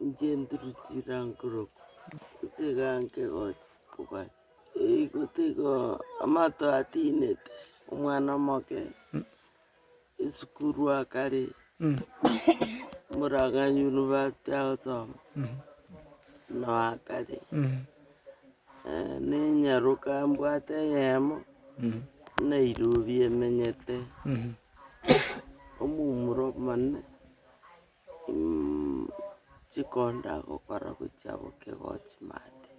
Inche nduru chirankorokwa, nchigaanke gocha kobasi. Eeigo tiga amato atinete, omwana omoke, esukuru akare, omoragaanyi university agosoma, nao akare, nenyaroka mbwate eyemo, nairobi emenyete, omomura omonene. Chikonda gokora gochia bokegochi maate,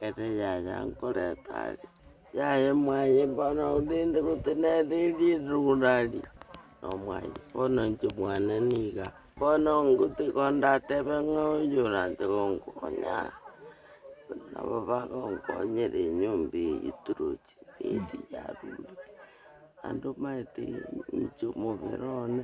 ere yaya nkoreta aria, yaya omwaye bono orende gotenena erie rogoro aria, na omwaye bono inche mwane niga, bono ngote kondatebe ng'a oyo oranche gonkonya, nabo bagonkonyera enyomba eywo toroche bweedi yarure, naende omanyete inche omobere one.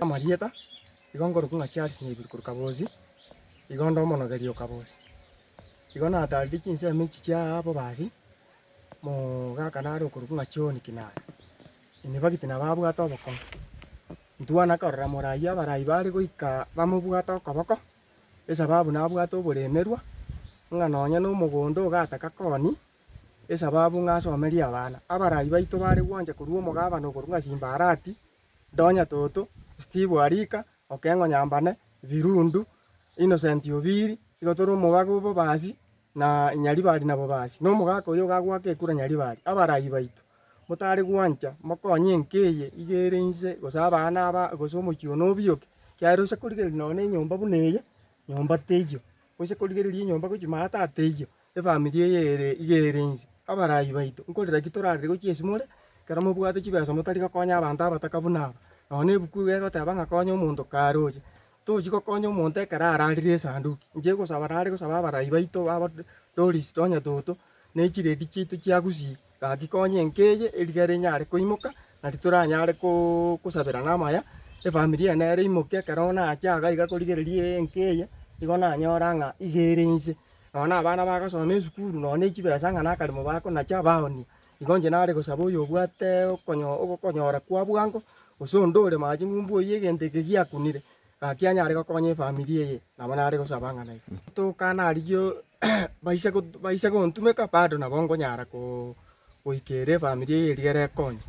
Amarieta, igo nkorokwa ng'a Charles Nyaiburi korwa Kabozi, igo nde omonogeri o Kabozi. Igo natarire chinsemo echi chia ababasi, mogaka nare okorokwa ng'a John Kinani, inibagite nabo abwate obokong'u. Ntwana korora morai abarai bare goika bamobwate okoboko, Esababu nabwate oboremerwa, ng'a nonya nomogondo ogataka koni, esababu ng'a asomerie abana. Abarai baito bare gwancha korua omogabane okorwa ng'a Simbarati, Donya Toto, Steve Arika, Okengo Nyambane, Birundu, Innocent Obiri, igo tore omobaga obobasi. na Nyaribari nabo basi, na omogaka oyo ogagwaka ekura Nyaribari, abarayi baito, motare gwancha, mokonye enka eye iga ere inse, gose abana aba, gose omochie oo nobiyoke, ekiagera ose korigereria nonya enyomba buna eye, nyomba teiyo, ose korigereria enyomba gochia maa tata teiyo, efamiri eye ere iga ere inse. Abarayi baito, nkorera ki torarire gochia esimore, ekero mobwate chibesa motari gokonya abanto abataka buna aba? Nonya ebuku iga egoteba ng'a konya omonto karoche, Tochi gokonya omonto ekero ararire esanduki. Inche gosaba nare gosaba abarai baito baba Doris tonya toto ne chiredi chiaito chia Gusii gaki konya enka eye erigere enyare koimoka nari toranyare kosabera namaya efamiri eye nere imoke ekero nache iga iga korigereria enka eye nigo nanyora ng'a iga ere inse. Nonya na abana bagasoma esukuru nonya ne chibesa ng'a nakaremo bakonacha baoonia. Igo inche nare gosaba oyobwate okonyo- ogokonyora kwa bwango, gose onde ore mache ng'umbu oyio egento eke giakunire, gaki anyare gokonya efamiri eye, nabo nare gosaba ng'a naye. Tokaana arigioo baise got- baise gontumeka bado nabo nkonyara koo- goika ere efamiri eye erio ere ekonye,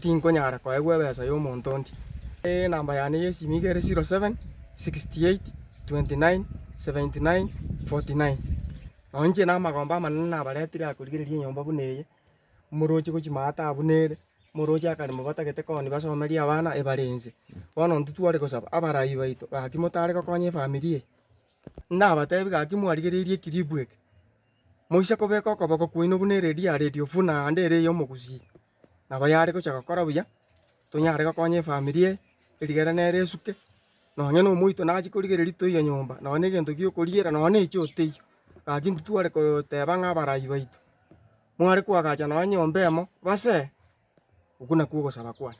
tinkonyara koegwa ebesa ya omonto onde. Enamba yane ya esimi niga ere zero seven, sixty eight, twenty nine, seventy nine, forty nine. Nao inche namagombe amanene nabaretire aa korigereria enyomba buna eye, omorochi gochia ime aa taba buna ere, omorochi akarema obatagete koni basomerie abana ebare inse. Bono intwe tware gosaba abarai baito gaki motare gokonya efamiri eye, nabatebi gaki mwarigereiri ekiripu eke, moise kobeka okoboko kwaino buna eredio ya radio buna ande ere ya omogusi, nabo yare gocha gokora buya, tonyare gokonya efamiri eye erigere nere esuke, nonye na omoito nachie korigereria toiyo nyomba, nonye na egento giokoriera, nonye na echo teiyo, gaki intwe tware goteba ng'a abarai baito, mware koagacha nonye nyomba emo, base, okwo nakwo ogosaba kwane.